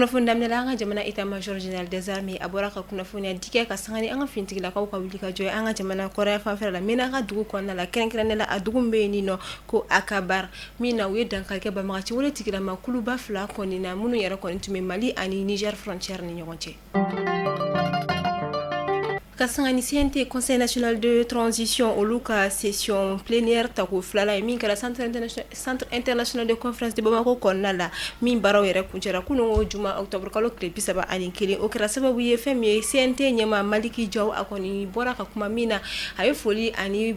Kunnafoni daminɛ la an ka jamana état major général des armées a bɔra ka kunnafoniya di kɛ ka sanga ni an ka finitigilakaw ka wuli ka jɔ ye an ka jamana kɔrɔnyanfan fɛla la Ménaka dugu kɔnɔna la kɛrɛnkɛrɛnnenya la a dugu min bɛ yen ni nɔ ko Akabar min na u ye dankari kɛ banbagaciwaletigilama kuluba 2 kɔni na minnu yɛrɛ kɔni tun bɛ Mali ani Niger frontière ni ɲɔgɔn cɛ. ka sanga ni CNT Conseil national de transition olu ka session plénière tako filala ye min kɛra centre international de conférence de Bamako kɔnɔna la min baaraw yɛrɛ kuncɛra kunungo juma octobre kalo tile bi saba ani kelen o kɛra sababu ye fɛn min ye CNT ɲɛmaa Maliki Jaw a kɔni bɔra ka kuma min na a ye foli ani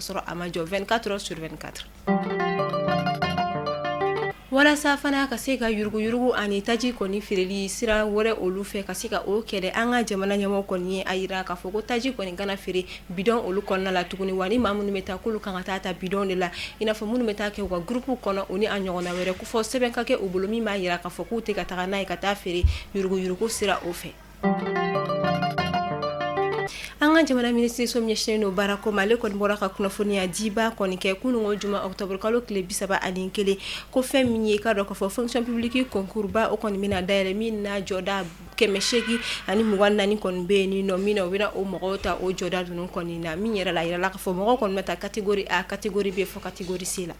sɔrɔ a ma jɔ 24 heures sur 24 walasa fana ka se ka yuruguyurugu ani taji kɔni feereli sira wɛrɛ olu fɛ ka se ka o kɛlɛ an ka jamana ɲɛmɔgɔ kɔni ye a yira k'a fɔ ko taji kɔni kana feere bidon olu kɔnɔna la tuguni wa ni maa minnu bɛ taa k'olu kan ka taa ta bidon de la i n'a fɔ minnu bɛ taa kɛ u ka groupe kɔnɔ u ni a ɲɔgɔnna wɛrɛ ko fo sɛbɛn ka kɛ u bolo min b'a yira k'a fɔ k'u tɛ ka taga n'a ye ka taa feere yuruguyurugu sira o fɛ An ka jamana minisiriso min ɲɛsinnen don baarako ma ale kɔni bɔra ka kunnafoniya diba kɔni kɛ kunungo juma octobre kalo tile bi saba ani kelen ko fɛn min ye k'a dɔn k'a fɔ fonction publique concours ba o kɔni bɛna dayɛlɛ min na jɔda kɛmɛ seegin ani mugan ni naani kɔni bɛ yen ni nɔ min na u bɛna o mɔgɔw ta o jɔda ninnu kɔni na min yɛrɛ la a yirala k'a fɔ mɔgɔw kɔni bɛna ta catégorie A catégorie B fo catégorie C la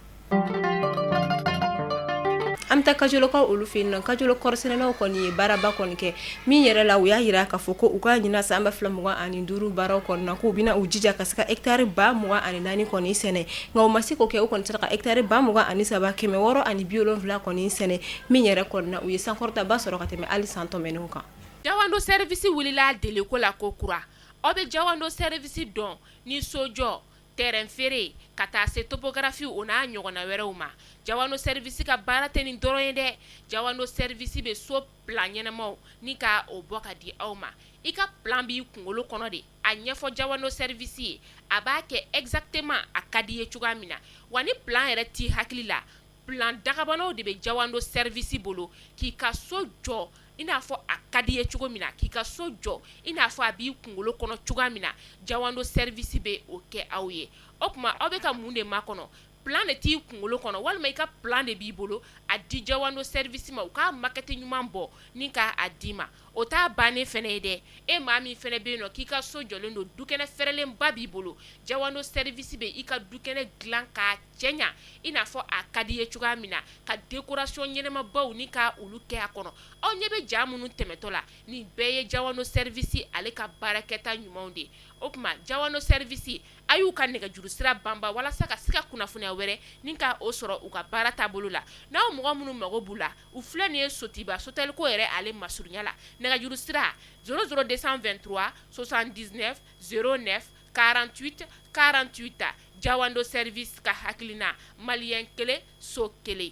An bɛ taa Kajolokaw olu fɛ yen nɔ Kajolo kɔɔrisɛnɛlaw kɔni ye baaraba kɔni kɛ min yɛrɛ la u y'a yira k'a fɔ ko u ka ɲinan san ba fila mugan ani duuru baaraw kɔnɔna k'u bɛna u jija ka se ka hectare ba mugan ani naani kɔni sɛnɛ nka u ma se k'o kɛ u kɔni sera ka hectare ba mugan ani saba kɛmɛ wɔɔrɔ ani bi wolonwula kɔni sɛnɛ min yɛrɛ kɔnɔna u ye sankɔrɔta ba sɔrɔ ka tɛmɛ hali san tɛmɛnenw kan Jawando service wulila deliko la ko kura aw bɛ Jawando service dɔn ni sojɔ terrain feere ka taa se topographie o n'a ɲɔgɔnna wɛrɛw ma Jawando service ka baara tɛ nin dɔrɔn ye dɛ Jawando service bɛ so plan ɲɛnamaw ni ka o bɔ ka di aw ma i ka plan b'i kunkolo kɔnɔ de a ɲɛfɔ Jawando service ye a b'a kɛ exactement a ka di i ye cogoya min na wa ni plan yɛrɛ t'i hakili la plan dakabanaw de bɛ Jawando service bolo k'i ka so jɔ i n'a fɔ a ka di i ye cogo min na k'i ka so jɔ i n'a fɔ a b'i kunkolo kɔnɔ cogoya min na jawando service bɛ o kɛ aw ye o tuma aw bɛ ka mun de makɔnɔ plan de t'i kunkolo kɔnɔ walima i ka plan de b'i bolo a di jawando service ma u k'a maquette ɲuman bɔ ni ka a d'i ma o t'a bannen fɛnɛ ye dɛ e maa min fɛnɛ bɛ yen nɔ k'i ka so jɔlen don dukɛnɛ fɛrɛlenba b'i bolo jawando service bɛ i ka dukɛnɛ dilan k'a cɛ ɲa i n'a fɔ a ka di ye cogoya min na ka décoration ɲɛnamabaw ni ka olu kɛ a kɔnɔ aw ɲɛ bɛ ja minnu tɛmɛtɔ la nin bɛɛ ye Jawando service ale ka baarakɛta ɲumanw de o tuma Jawando service a y'u ka nɛgɛjuru sira banban walasa ka se ka kunnafoniya wɛrɛ ni ka o sɔrɔ u ka baara taabolo la n'aw mɔgɔ minnu mago b'u la u filɛ nin ye Sotiba Sotelko yɛrɛ ale masurunya la nɛgɛjuru sira 002237909 48 48 Jawando service ka hakilina malien 1 so 1.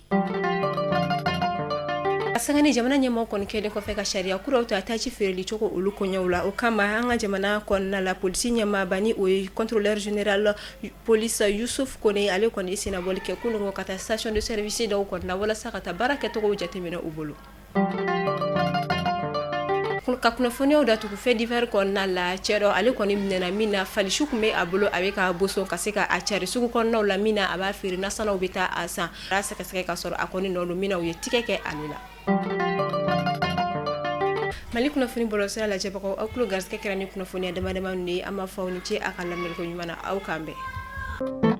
A sanga ni jamana ɲɛmaaw kɔni kɛlen kɔfɛ ka sariya kuraw ta taji feereli cogo olu koɲɛw la, o kama an ka jamana kɔnɔna la police ɲɛmaaba ni o ye contrôleur général police Yusuf Kone ale kɔni ye sennabɔli kɛ kununko ka taa station de service dɔw kɔnɔna na walasa ka taa baara kɛcogow jateminɛ u bolo. Ka kunnafoniyaw datugu fait divers kɔnɔna la cɛ dɔ ale kɔni minɛna min na fali suw tun bɛ a bolo a bɛ ka boson ka se ka a cari sugu kɔnɔnaw la min na a b'a feere nasannaw bɛ taa a san a sɛgɛsɛgɛ ka sɔrɔ a kɔni nɔ don min na u ye tigɛ kɛ ale la Mali kunnafoni bɔlɔsira lajɛbagaw aw tulo garisɛgɛ kɛra ni kunnafoniya damadama ninnu de ye an b'a fɔ aw ni ce a ka lamɛliko ɲuman na aw k'an bɛn